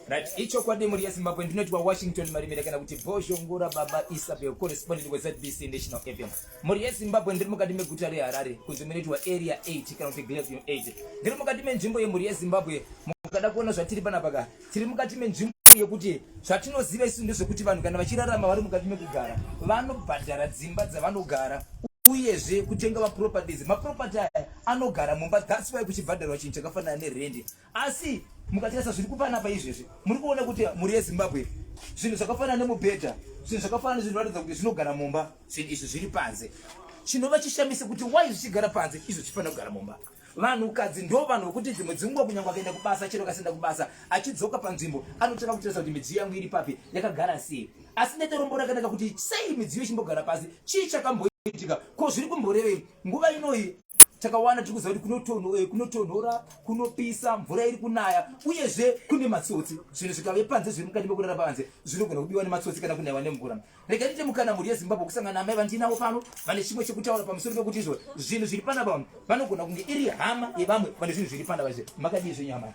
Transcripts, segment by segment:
right ichokwadi mhuri yezimbabwe ndinoti washington marimira kana kuti bozhongora baba isabel correspondent wezbc national fm mhuri yezimbabwe ndiri mukati meguta reharare kunzi munoitwa area 8 kana kuti glavium 8 ndiri mukati menzvimbo yemhuri yezimbabwe mukada kuona zvatiri panapaka tiri mukati menzvimbo yekuti zvatinoziva isu ndezvekuti vanhu kana vachirarama vari mukati mekugara vanobhadhara dzimba dzavanogara uyezve kutenga maproperties maproperty aya anogara mumba thats why kuchibhadharwa chinhu chakafanana nerendi asi mukatarisa zviri kupana pa izvezvi muri kuona kuti mhuri yezimbabwe zvinhu zvakafanana nemubhedha zvinhu zvakafanana zvinhu ratidza kuti zvinogara mumba zvinhu izvi zviri panze chinova chishamise kuti why zvichigara panze izvo chifanira kugara mumba vanhukadzi ndo vanhu vokuti dzimwe dzinguva kunyangwa akaenda kubasa chero kasenda kubasa achidzoka panzvimbo anotanga kutarisa kuti midziyo yangu iri papi yakagara sei asi netorombo rakanaka kuti sei midziyo ichimbogara pasi chii chakamboitika ko zviri kumborevei nguva inoyi takawana tiri kuziva kuti eh, kunotonhora kunopisa mvura iri kunaya uyezve kune matsotsi zvinhu zvikave panze zviri mukati mekurara panze zvinogona kubiwa nematsotsi kana kunaiwa nemvura rega tiite mukana mhuri yezimbabwe kusangana namai vandiinavo pano vane chimwe chekutaura pamusoro pekuti izvo zvinhu zviri pana pano vanogona kunge iri hama yevamwe vane zvinhu zviri pana vazve makadii zvenyu hama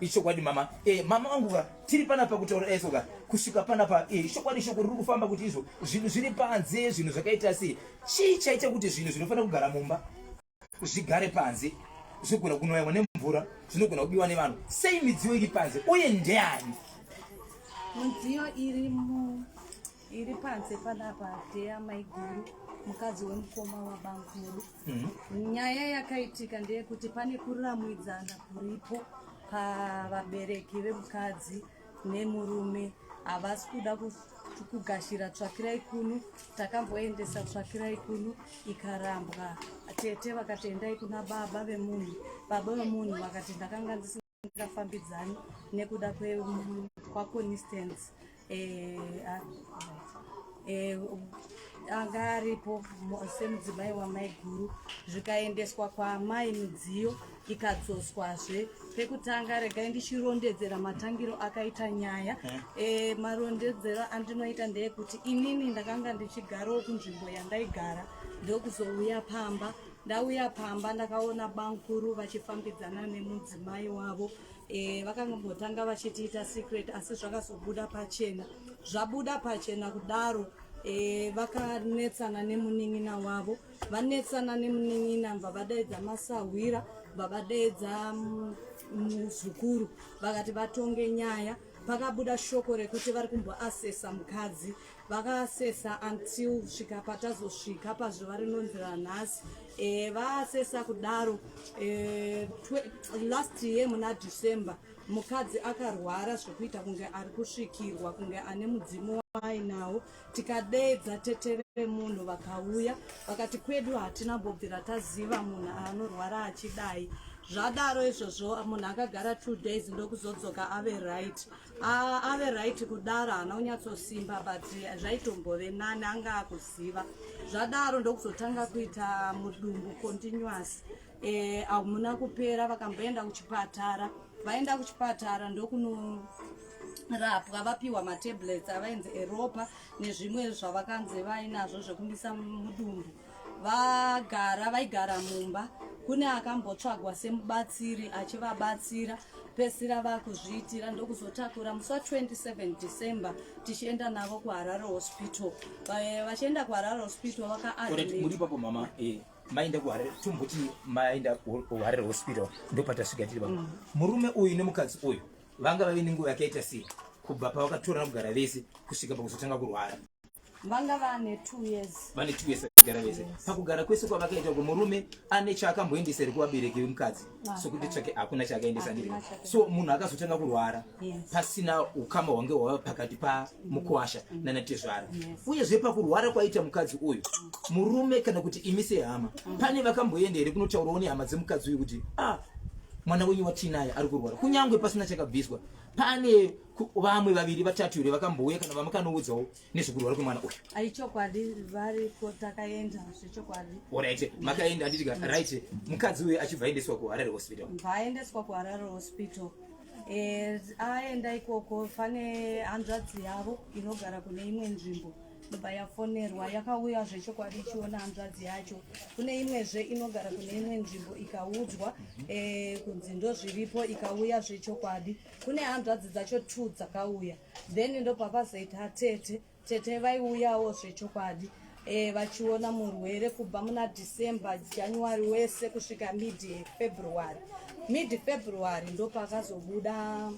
ichokwadi mama eh, mama vangu ka tiri panapa kutaura eso ka kusvika panapa eh, ichokwadi shoko riri kufamba kuti izvo zvinhu zviri panze zvinhu zvakaita sei chii chaita kuti zvinhu zvinofanira kugara mumba zvigare panze zvinogona kunoyamwa nemvura zvinogona kubiwa nevanhu sei midziyo iri panze uye ndeyani midziyo iri mu iri panze panapa deya maiguru mukadzi wemukoma wabangu medu mm -hmm. nyaya yakaitika ndeyekuti pane kuramwidzana kuripo pavabereki vemukadzi nemurume havasi kuda kugashira tsvakirai kuno takamboendesa tsvakirai kuno ikarambwa tete vakati endai kuna baba vemunhu baba vemunhu vakati ndakanga ndisingafambidzani nekuda kwaconistance eh, ah, eh, anga aripo semudzimai wamai guru zvikaendeswa kwaamai midziyo ikadzoswazve pekutanga regai ndichirondedzera matangiro akaita nyaya e, marondedzero andinoita ndeyekuti inini ndakanga ndichigarowo kunzvimbo yandaigara ndokuzouya pamba ndauya pamba ndakaona bankuru vachifambidzana nemudzimai wavo e, vakangotanga vachitiita secret asi zvakazobuda pachena zvabuda pachena kudaro e, vakanetsana nemunin'ina wavo vanetsana nemunin'ina mva vadaidza masahwira mva vadaidza mm, muzukuru vakati vatonge nyaya pakabuda shoko rekuti vari kumboasesa mukadzi vakaasesa until svika patazosvika pazuva rinonzi ranhasi e, vaasesa kudaro e, last year muna december mukadzi akarwara zvekuita kunge ari kusvikirwa kunge ane mudzimu waainawo tikadeedza tete vemunhu vakauya vakati kwedu hatina mbobvira taziva munhu anorwara achidai zvadaro izvozvo munhu akagara two days ndokuzodzoka ave right ave right kudaro haana kunyatsosimba but zvaitombove nani anga akuziva zvadaro ndokuzotanga kuita mudumbu continuous Eh, hamuna kupera vakamboenda kuchipatara vaenda kuchipatara ndokunorapwa vapiwa matablets avainzi eropa nezvimwe zvavakanzi vainazvo zvekumisa mudumbu vagara vaigara mumba kune akambotsvagwa semubatsiri achivabatsira pesira vakuzviitira ndokuzotakura musi wa 27 december tichienda navo kuharare hospital vachienda kuharare hospital vakaadmit muri papo mama eh, maenda kuharare tomboti maenda kuharare hospital ndopatasvika tiri vamwe mm. murume uyu nemukadzi uyu vanga vave nenguva yakaita sei kubva pavakatorana kugara vese kusvika pakuzotanga kurwara vanga vane two years vane two years vakagara vese pakugara kwese kwavakaita ko murume ane chaakamboendesa here kuvabereki vemukadzi sokuti tsvake hakuna chakaendesa ndiri so munhu akazotanga kurwara pasina ukama hwange hwava pakati pamukwasha mm. nana tezvara uyezve pakurwara kwaita mukadzi uyu mm. murume kana kuti imi sehama mm. pane vakamboenda here kunotaurawo nehama dzemukadzi uyu kuti ah mwana wenyu watinaye ari kurwara kunyange pasina chakabviswa pane vamwe vaviri vatatu here vakambouya kana vamwe kanoudzawo nezvekurwara kwemwana uyu ai chokwadi variko takaenda zvechokwadi orit makaenda anditika right mukadzi uyu achibva aendeswa kuharare hospital bvaaendeswa kuharare hospital eh, aenda ikoko pane hanzvadzi yavo inogara kune imwe nzvimbo ndobva yafonerwa yakauya zvechokwadi ichiona hanzvadzi yacho kune imwezve inogara kune imwe nzvimbo ikaudzwa eh, kunzi ndozviripo ikauya zvechokwadi kune hanzvadzi dzacho two dzakauya then ndopakazoita tete tete vaiuyawo zvechokwadi e, vachiona murwere kubva muna december january wese kusvika mid february mid february ndopakazobuda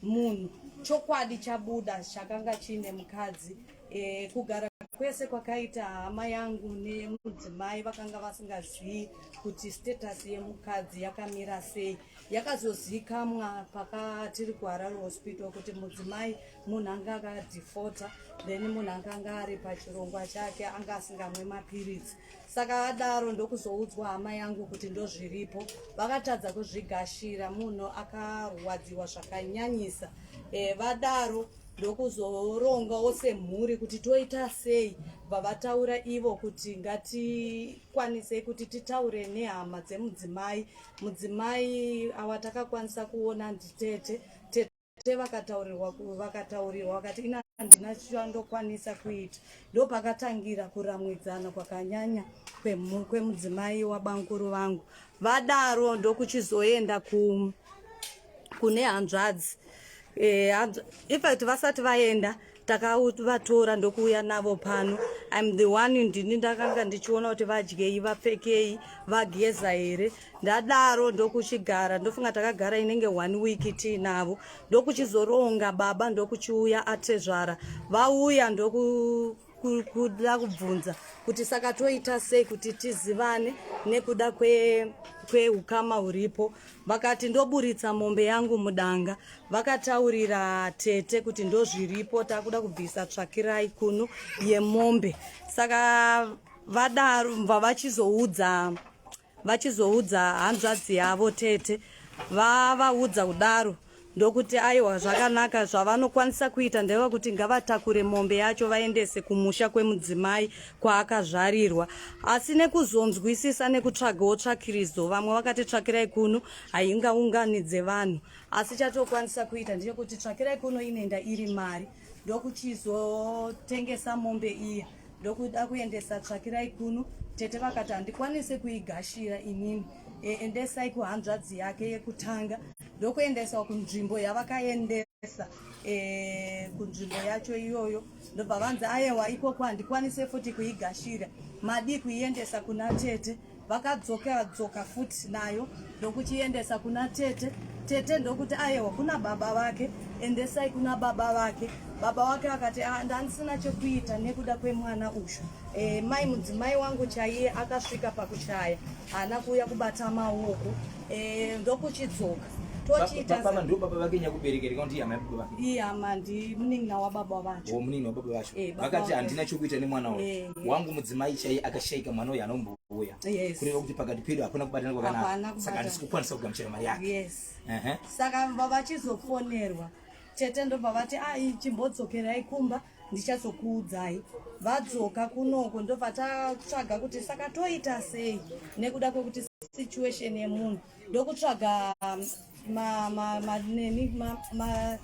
munhu chokwadi chabuda chakanga chiine mukadzi e, kugara kwese kwakaita hama yangu nemudzimai vakanga vasingazivi kuti status yemukadzi yakamira sei yakazozikamwa pakatiri kuharare hospital kuti mudzimai munhu anga akadhifota then munhu anga anga ari pachirongwa chake anga asingamwe mapiritsi saka adaro ndokuzoudzwa hama yangu kuti ndozviripo vakatadza kuzvigashira munhu akarwadziwa zvakanyanyisa e, vadaro ndokuzorongawo semhuri kuti toita sei vavataura ivo kuti ngatikwanisei kuti titaure nehama dzemudzimai Mudzimai awa takakwanisa kuona nditete tete vakataurirwa vakataurirwa vakati ina handina chandokwanisa kuita ndopakatangira kuramwidzana kwakanyanya kwemudzimai wabanguru vangu vadaro ndokuchizoenda ku kune hanzvadzi e, infact vasati vaenda takavatora ndokuuya navo pano im the one ndini ndakanga ndichiona kuti vadyei vapfekei vageza here ndadaro ndokuchigara ndofunga takagara inenge one week tiinavo ndokuchizoronga baba ndokuchiuya atezvara vauya ndoku kuda kubvunza kuti saka toita sei kuti tizivane nekuda kweukama kwe huripo vakati ndoburitsa mombe yangu mudanga vakataurira tete kuti ndozviripo takuda kubvisa tsvakirai kunu yemombe saka vadaro vavachizoudza vachizoudza hanzvadzi yavo tete vavaudza kudaro ndokuti aiwa zvakanaka zvavanokwanisa kuita ndeva kuti ngavatakure mombe yacho vaendese kumusha kwemudzimai kwaakazvarirwa asi nekuzonzwisisa nekutsvagawo tsvakiridzo vamwe vakati tsvakirai kuno haingaunganidze vanhu asi chatokwanisa kuita ndechekuti tsvakirai kuno inenda iri mari ndokuchizotengesa mombe iya ndokuda kuendesa tsvakirai kuno tete vakati handikwanise kuigashira inini e, endesai kuhanzvadzi yake yekutanga ndokuendeswa kunzvimbo yavakaendesa e, kunzvimbo yacho iyoyo ndobva vanzi ayewa ikoko handikwanise futi kuigashira madii kuiendesa kuna tete vakadzoka dzoka futi nayo ndokuchiendesa kuna tete tete ndokuti ayewa kuna baba vake endesai kuna baba vake baba wake vakati ah, ndandisina chekuita nekuda kwemwana uyu e, mai mudzimai wangu chaiye akasvika pakuchaya haana kuuya kubata maoko e, ndokuchidzoka tochiitababa ndo baba vake nyakuberekereka kuti hama yababa vake ihama ndi munin'ina wababa vacho oh, munin'ina wababa vacho eh, vakati handina chokuita nemwana wacho eh. wangu mudzimai chaiye akashaika mwana uyu anombouya yes. kureva kuti pakati pedu hapana kubatana kwakanaka saka handisi kukwanisa kugamuchira mari yake yes. uh -huh. saka vavachizofonerwa tete ndobva vati ai ah, chimbodzokerai kumba ndichazokuudzai vadzoka kunoko ndobva tatsvaga kuti saka toita sei nekuda kwekuti situation yemunhu ndokutsvaga um, ma ma ma neni ma, ma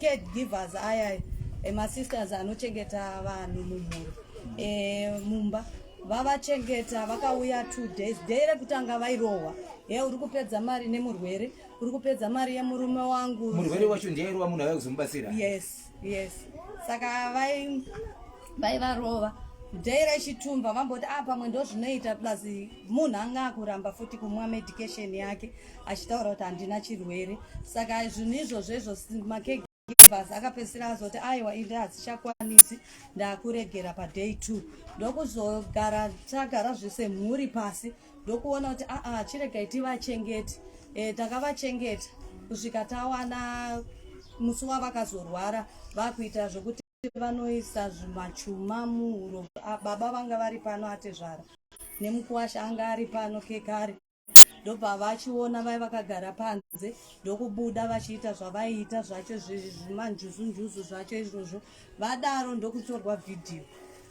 caregivers aya emasisters anochengeta vanhu mumhuri e, mumba vavachengeta vakauya two days day rekutanga vairohwa he uri kupedza mari nemurwere uri kupedza mari yemurume wangu murwere wacho ndiye airohwa munhu avai kuzomubatsira yes yes saka vai vaivarova day rechitumba vamboti a ah, pamwe ndozvinoita plus munhu anga akuramba futi kumwa medication yake achitaura kuti handina chirwere saka zvinhu izvozvo izvozvo makege bhazi akapedzisira azoti aiwa inde hadzichakwanisi ndakuregera paday two ndokuzogara tagara zvese mhuri pasi ndokuona kuti aa ah, ah, chiregai tivachengeti e, eh, takavachengeta kusvika tawana musi wavakazorwara vakuita zvekuti vanoisa zvimachuma muhuro ah, baba vanga vari pano atezvara nemukuwasha anga ari pano kekare ndobva vachiona vai vakagara panze ndokubuda vachiita zvavaiita zvacho zvimanjuzunjuzu zvacho izvozvo vadaro ndokutorwa vhidhiyo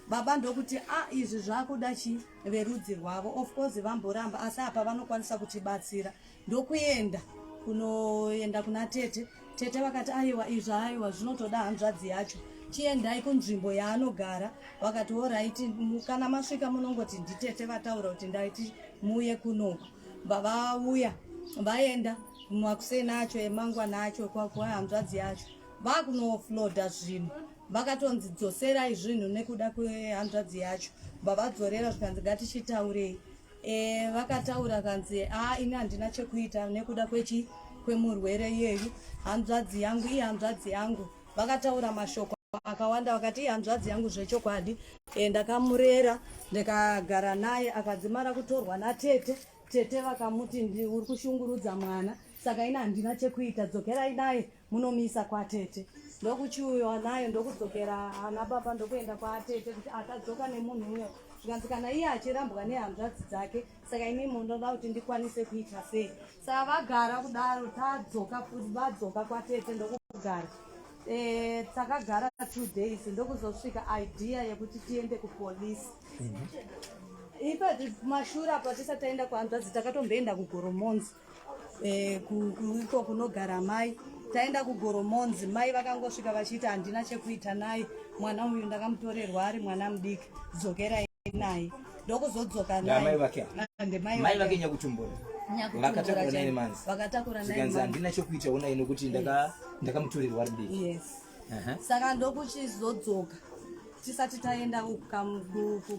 baba ndokuti a ah, izvi zvakuda chi verudzi rwavo of course vamboramba asi apa vanokwanisa kutibatsira ndokuenda kunoenda kuna tete Tete vakati aiwa izvo aiwa zvinotoda hanzvadzi yacho chiendai kunzvimbo yaanogara vakati oraiti kana masvika munongoti nditete vataura kuti ndaiti muuye kunoku vavauya vaenda makuseni acho emangwana acho kwakuwa hanzvadzi yacho vakunofloda zvinhu vakatonzi dzoserai zvinhu nekuda kwehanzvadzi yacho vavadzorera zvikanzi ngatichitaurei Eh, vakataura kanzi haa ini handina chekuita nekuda kwechi kwemurwere iyeyu hanzvadzi yangu iye hanzvadzi yangu vakataura mashoko akawanda vakati iye hanzvadzi yangu zvechokwadi e, ndakamurera ndikagara naye akadzimara kutorwa natete tete vakamuti uri kushungurudza mwana saka ini handina chekuita dzokerai naye munomisa kwatete ndokuchiuyiwa nayo ndokudzokera ana baba ndokuenda kwatete kuti akadzoka nemunhu uyo zvikanzi kana iye achirambwa nehanzvadzi dzake saka imi munoda kuti ndikwanise kuita sei saka vagara kudaro tadzoka vadzoka kwatete ndokugara Eh, takagara two days ndokuzosvika idea yekuti tiende kupolice mhm. ipa mashura apo tisati taenda kuhanzvadzi takatomboenda kugoromonzi eh, iko kunogara mai taenda kugoromonzi mai vakangosvika vachiti handina chekuita naye mwana uyu ndakamutorerwa ari mwana mudiki dzokerai naye ndokuzodzoka naye ndemai vake nyakutumbura vakatakura naye manzi vakatakura naye manzi handina chekuita ona ino kuti ndaka ndakamutorerwa ari mudiki yes saka ndokuchizodzoka tisati taenda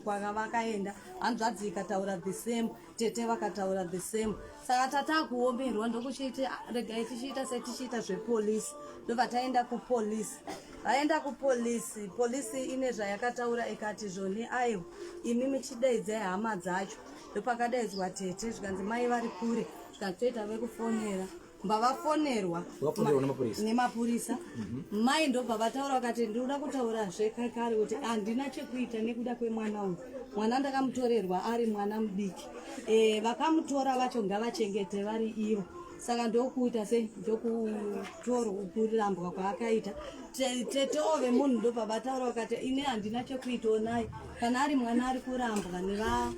kwakavakaenda hanzvadzi ikataura the same tete vakataura the same saka tatakuomerwa ndokuchiiti ah, regai tichiita setichiita zvepolisi ndobva taenda kupolisi vaenda kupolisi polisi ine zvayakataura ikati zvoni aiwa imi michidaidzai hama dzacho ndopakadaidzwa tete zvikanzi mai vari kure zvikanzi toita vekufonera pavafonerwa nemapurisa mhm. mai ndobva vataura vakati ndinoda kutaura zvekakare kuti handina chekuita nekuda kwemwana uyu mwana ndakamutorerwa ari mwana mudiki e, vakamutora vacho ngavachengete vari ivo saka ndokuita sei ndokutorambwa kwaakaita tete ove munhu ndobva vataura vakati ini handina chekuita onai kana ari mwana ari kurambwa neva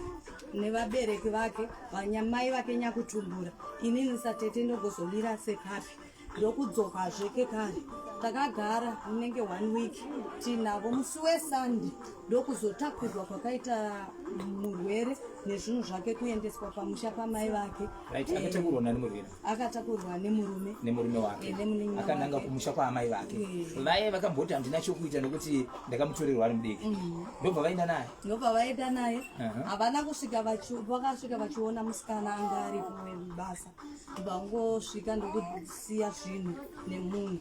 nevabereki vake vanyamai vake nyakutumbura inini satete ndogozomira sepapi ndokudzokazve kekare takagara unenge one week tinavo musi wesande ndokuzotakurwa kwakaita murwere nezvinhu zvake kuendeswa pamusha pamai vake right, akatakurwa nemurume nemurume wake eh, akananga kumusha kwaamai vake eh. vaye vakamboti handina chokuita nekuti ndakamutorerwa ari mudiki mm. ndobva vaenda naye ndobva vaenda naye havana kusvika vakasvika vachiona musikana anga ari kubasa ndobva vangosvika ndokusiya zvinhu nemunhu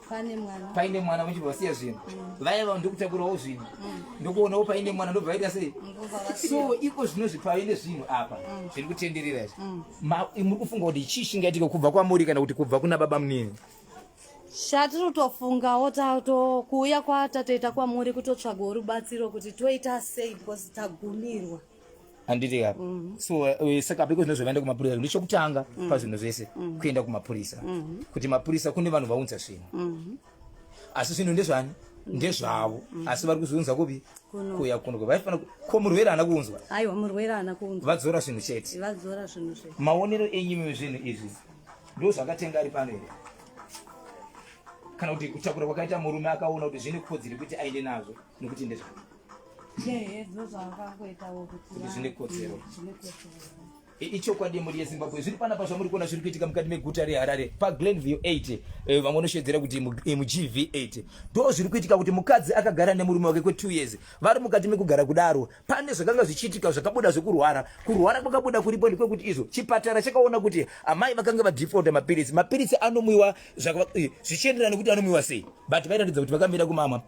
paine mwana paine mwana vachibva vasiya zvinhu mm. vaya vanhu ndikutakurawo zvinhu mm. ndokuonawo paine mwana ndobva vaita sei so iko zvino zvipave nezvinhu apa mm. zviri kutenderera izvi muri kufunga kuti chii chingaitike kubva kwamuri kana kuti kubva kuna baba munini shatiri tofungawo kuuya kwatatoita kwamuri kutotsvaga rubatsiro kuti toita sei because tagumirwa handiti ka mm. so eh, saka because ndozvavaenda kumapurisa ndichokutanga mm. pazvinhu zvese mm. kuenda kumapurisa mm-hmm. kuti mapurisa kune vanhu vaunza zvinhu mm-hmm. asi zvinhu ndezvani mm-hmm. ndezvavo asi vari kuzviunza kupi kuya kuno vaifana ko murwere ana kuunzwa aiwa murwere ana kuunzwa vadzora zvinhu chete vadzora zvinhu zve maonero enyimi zvinhu izvi ndo zvakatenga ari pano here kana kuti kutakura kwakaita murume akaona kuti zvine kodziri kuti aende nazvo nokuti ndezvavo ichokwadi muri yezimbabwe zviri panapa zvamuri kuona zviri kuitika mukati meguta reharare paglenview 8 eh, vamwe vanoshedzera kuti mugv 8 ndo zviri kuitika kuti mukadzi akagara nemurume wake kwe2 years vari mukati mekugara kudaro pane zvakanga zvichiitika zvakabuda zvekurwara kurwara kwakabuda kuripo ndekwekuti izvo chipatara chakaona kuti amai vakanga vadefaulta mapiritsi mapiritsi anomwiwa eh, zvichienderana nekuti anomwiwa sei but vairatidza kuti vakamira kumamwa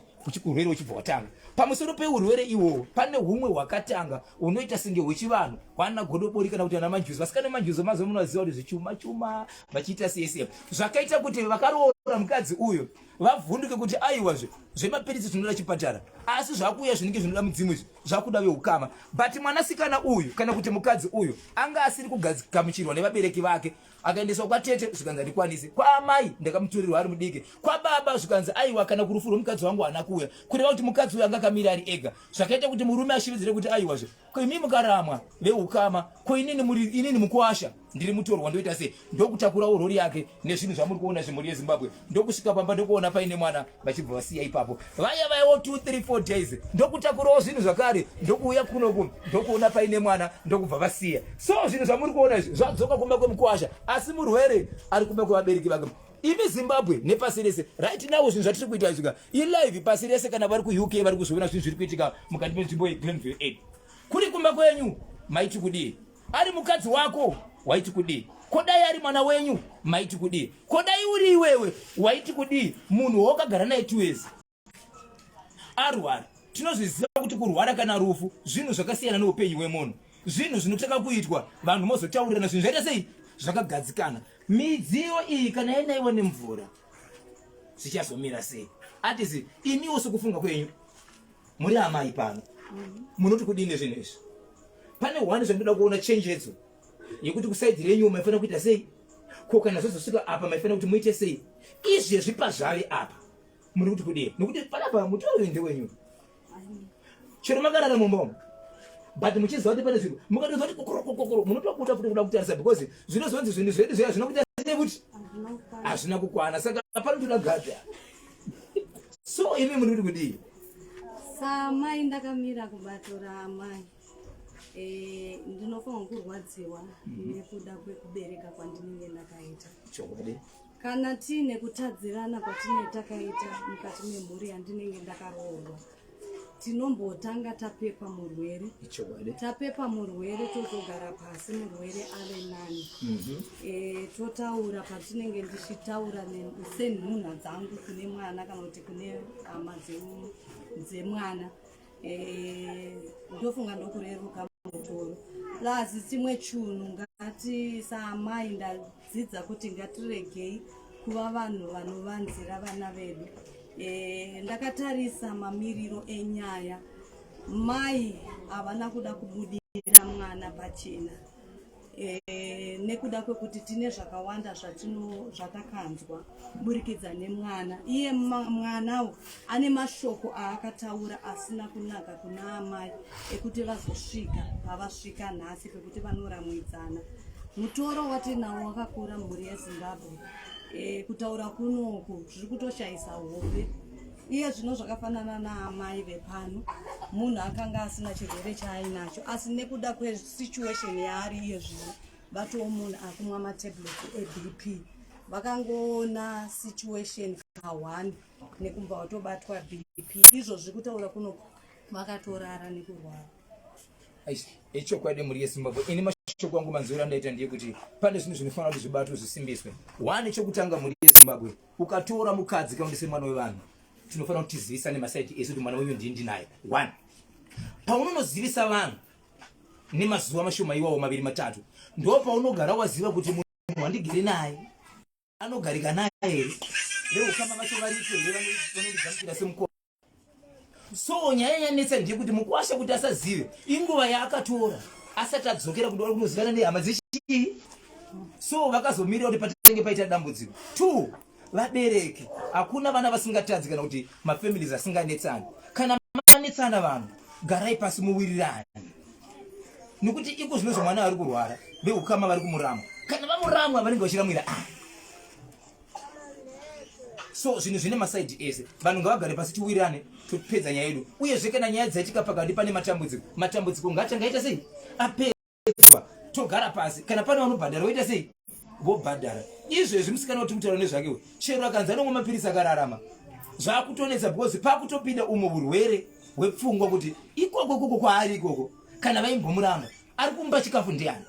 urwere uchibva watanga pamusoro peurwere iwowo pane humwe hwakatanga unoita senge hwechivanhu hwana godobori kana kuti ana manjuzi vasikana manjuzi mazuva muno vaziva kuti zvichuma chuma vachiita sese zvakaita kuti vakaroora mukadzi uyo vavhunduke kuti aiwa zve zvemapiritsi zvinoda chipatara asi zvakuuya zvinenge zvinoda mudzimu izvi zvakuda veukama but mwanasikana uyu kana kuti mukadzi uyu anga asiri kugamuchirwa nevabereki vake akaendeswa kwatete zvikanzi handikwanisi kwaamai ndakamuturirwa ari mudiki kwababa zvikanzi aiwa kana kurufu rwemukadzi wangu haana kuuya kureva kuti mukadzi uyo anga akamira ari ega zvakaita kuti murume ashiridzire kuti aiwazve koimi mukaramwa veukama koinini muri inini mukuwasha ndiri mutorwa ndoita sei ndokutakurawo rori yake nezvinhu zvamuri kuona zvemhuri yezimbabwe ndokusvika pamba ndokuona paine mwana vachibva vasiya ipapo vaya vaiwo 234 days ndokutakurawo zvinhu zvakare ndokuuya kunoku ndokuona paine mwana ndokubva vasiya so zvinhu zvamuri kuona izvi zvadzoka kumba kwemukwasha asi murwere ari kumba kwevabereki vake imi zimbabwe nepasi rese right now zvinhu zvatiri kuita izvika ilive pasi rese kana vari kuuk vari kuzviona zvinhu zviri kuitika mukati menzvimbo yeglenville aid kuri kumba kwenyu maiti kudii ari mukadzi wako waiti kudii ko dai ari mwana wenyu maiti kudii ko dai uri iwewe waiti kudii munhu waukagara naye tiwezi arwara tinozviziva kuti kurwara kana rufu zvinhu zvakasiyana neupenyu hwemunhu zvinhu zvinotanga kuitwa vanhu mozotaurirana zvinhu zvaita sei zvakagadzikana midziyo iyi kana yainaiwa nemvura zvichazomira sei atisi imiwo sokufunga kwenyu muri amai pano munoti kudii nezvinhu izvi pane one zvandinoda kuona chenjedzo yekuti kusaidhi renyu maifanira kuita sei ko kana zvozosvika apa maifanira kuti muite sei izvezvi pazvave apa muri kuti kudii nokuti panapa mutorori ndewenyu chero makarara mumbomo but muchiziva kuti pane zvinhu mukatoziva kuti kokorokokokoro munotokuta futi kuda kutarisa because zvinozonzi zvinhu zvedu zviya zvinokuita sekuti hazvina kukwana saka panotoda gadha so imi muri kudii samai ndakamira kubatora amai eh, ndinofanirwa kurwadziwa mhm. nekuda kwekubereka kwandinenge ndakaita chokwadi kana tiine kutadzirana kwatinee takaita mukati memhuri yandinenge ndakaroorwa tinombotanga tapepa murwere tapepa murwere tozogara pasi murwere ave nani mhm. eh, totaura patinenge ndichitaura senhunha dzangu kune mwana kana kuti kune hama dzemwana eh, ndofunga ndokureruka mutoro plus chimwe chunhu ngati saamai dzidza kuti ngatiregei kuva vanhu vanovanzira vana vedu e, ndakatarisa mamiriro enyaya mai havana kuda kubudira mwana pachena e, nekuda kwekuti tine zvakawanda zvatino zvatakanzwa kuburikidza nemwana iye mwanawo ane mashoko aakataura asina kunaka kuna amai ekuti vazosvika pavasvika nhasi pekuti vanoramwidzana mutoro watinawo wakakura mhuri yezimbabwe e, kutaura kunoku zviri kutoshayisa hope iye zvino zvakafanana naamai vepano munhu akanga asina chirwere chaainacho asi nekuda kwesituation yaari iye zvino vatowo munhu akumwa matablet ebp vakangoona situation kahwani nekumva watobatwa bp izvozvi kutaura kuno vakatorara nekurwara echokwadi mhuri yezimbabwe ini mashoko angu manzwiro andaita ndiye kuti pane zvinhu zvinofanira kuti zvibatwe zvisimbiswe one chokutanga mhuri yezimbabwe ukatora mukadzi kaundise mwana wevanhu tinofanira kuti tizivisane masaiti esu kuti mwana wenyu ndii ndinaye one paunonozivisa vanhu nemazuva mashoma iwawo maviri matatu ndo paunogara waziva kuti munhu wandigere naye anogarika naye here veukama vacho variko here vanondigamuchira semukoma so nyaya yanetsa ndeyekuti mukwasha kuti asazive inguva yaakatora asati adzokera kuti kunozivana nehama dzechii so vakazomirira kuti patenge paita dambudziko two vabereki hakuna vana vasingatadzi kana kuti mafamilies asinganetsani kana manetsana vanhu garai pasi muwirirani nokuti iko zvino zvomwana vari kurwara veukama vari kumuramwa kana vamuramwa vanenge vachiramwira ah. so zvinhu zvine masaidi ese vanhu ngavagare pasi tiwirirane topedza nyaya yedu uyezve kana nyaya dzaitika pakati pane matambudziko matambudziko ngaachangaita sei apera kuchekwa togara pasi kana pane vanobhadhara voita sei vobhadhara izvezvi musikana kuti mutaura nezvake uyu chero akanzi anomwa mapirisi akararama zvakutonetsa because pakutopinda umwe urwere hwepfungwa kuti ikoko ikoko kwaari ikoko kana vaimbomuramba ari kumba chikafu ndiani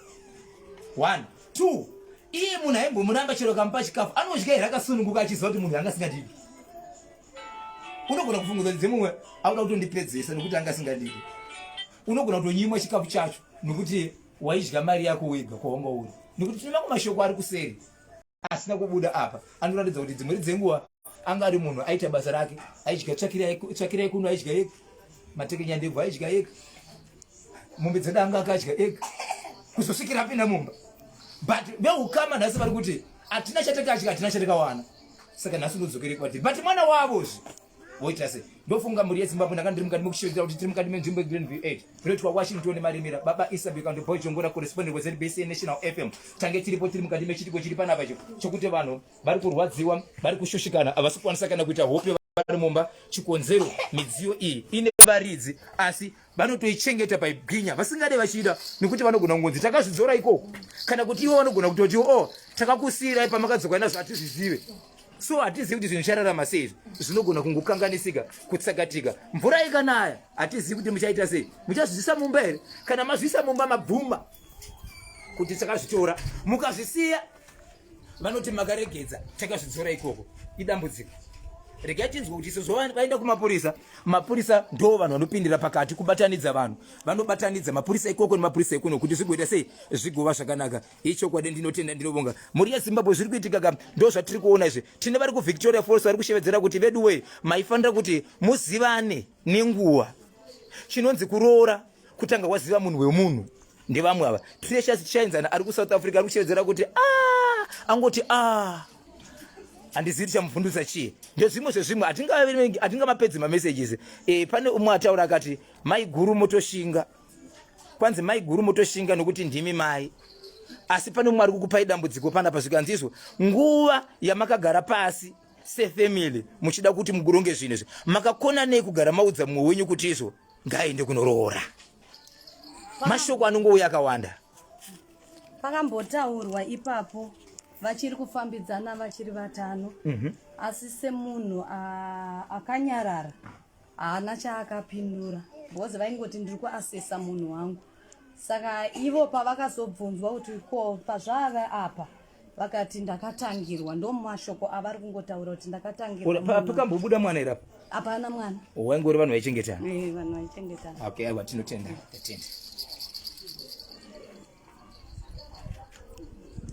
one two iye munhu aimbomuramba chero kamupa chikafu anodya here akasununguka achiziva kuti munhu anga asingadivi unogona kufunguza dzimumwe auda kutondipedzesa nokuti anga asingadivi unogona kutonyimwa chikafu chacho nokuti waidya mari yako wega kwawanga uri nokuti tinoona kumashoko ari kuseri asina kubuda apa anoratidza kuti dzimweri dzenguva anga ari munhu aita basa rake aidya tsvakira yekuno aidya yega matekenya ndebvu aidya yega mombe dzeda anga akadya yega kuzosvikira apinda mumba but veukama nhasi vari kuti hatina chatakadya hatina chatakawana saka nhasi ndodzokere kwatiri but mwana wavozve woita sei ndofunga mhuri yezimbabwe ndanga ndiri mukati mekushevedzera kuti tiri mukati menzvimbo yegreen v 8 kunoitwa washington nemaremera baba isabek and boy jongora correspondent wezbc national fm tange tiripo tiri mukati mechitiko chiri panapa cho chokuti vanhu vari kurwadziwa vari kushushikana havasi kukwanisa kana kuita hope vari mumba chikonzero midziyo iyi ine varidzi asi vanotoichengeta paibwinya vasingade vachida nekuti vanogona kungonzi takazvidzora ikoko kana kuti ivo vanogona kutoti o oh, takakusiirai pamakadzoka nazvo hatizvizive so hatizivi kuti zvinhu zvichararamwa sei izvi zvinogona kungokanganisika kutsakatika mvura ikanaya hatizivi kuti muchaita sei muchazvizvisa mumba here kana mazvisa mumba mabvuma kuti takazvitora mukazvisiya vanoti makaregedza takazvidzora ikoko idambudziko regai tinzwe kuti sezvo vaenda kumapurisa mapurisa ndo vanhu vanopindira pakati kubatanidza vanhu vanobatanidza mapurisa ikoko nemapurisa ekuno kuti zvigoita sei zvigova zvakanaka ichokwadi ndinotenda ndinovonga mhuri yezimbabwe zviri kuitika ka ndo zvatiri kuona izvi tine vari kuvictoria falls vari kushevedzera kuti veduwee maifanira kuti muzivane nenguva chinonzi kuroora kutanga waziva munhu wemunhu ndevamwe ava precious tichaenzana ari kusouth africa ari kushevedzera kuti a ah! angoti a ah! handizivi tichamuvhundutsa chii ndezvimwe zvezvimwe hatingamapedzi mamessages e, pane umwe ataura akati mai guru motoshinga kwanzi mai guru motoshinga nokuti ndimi mai asi pane umwe ari kukupai dambudziko panapa zvikanzi izvo nguva yamakagara pasi sefamily muchida kuti muguronge zvinhu izvi makakona nei kugara maudza mumwe wenyu kuti izvo Ngaende kunoroora. Mashoko anongouya akawanda. Pakambotaurwa ipapo vachiri kufambidzana vachiri vatano mm -hmm. asi semunhu akanyarara haana chaakapindura because vaingoti ndiri kuasesa munhu wangu saka ivo pavakazobvunzwa kuti ko pazvave apa vakati ndakatangirwa ndomashoko avari kungotaura kuti ndakatangirwapakambobuda mwana irapo hapana mwana waingori vanhu vaichengetana eh, vanhu vaichengetana okay aiwa tinotenda tatenda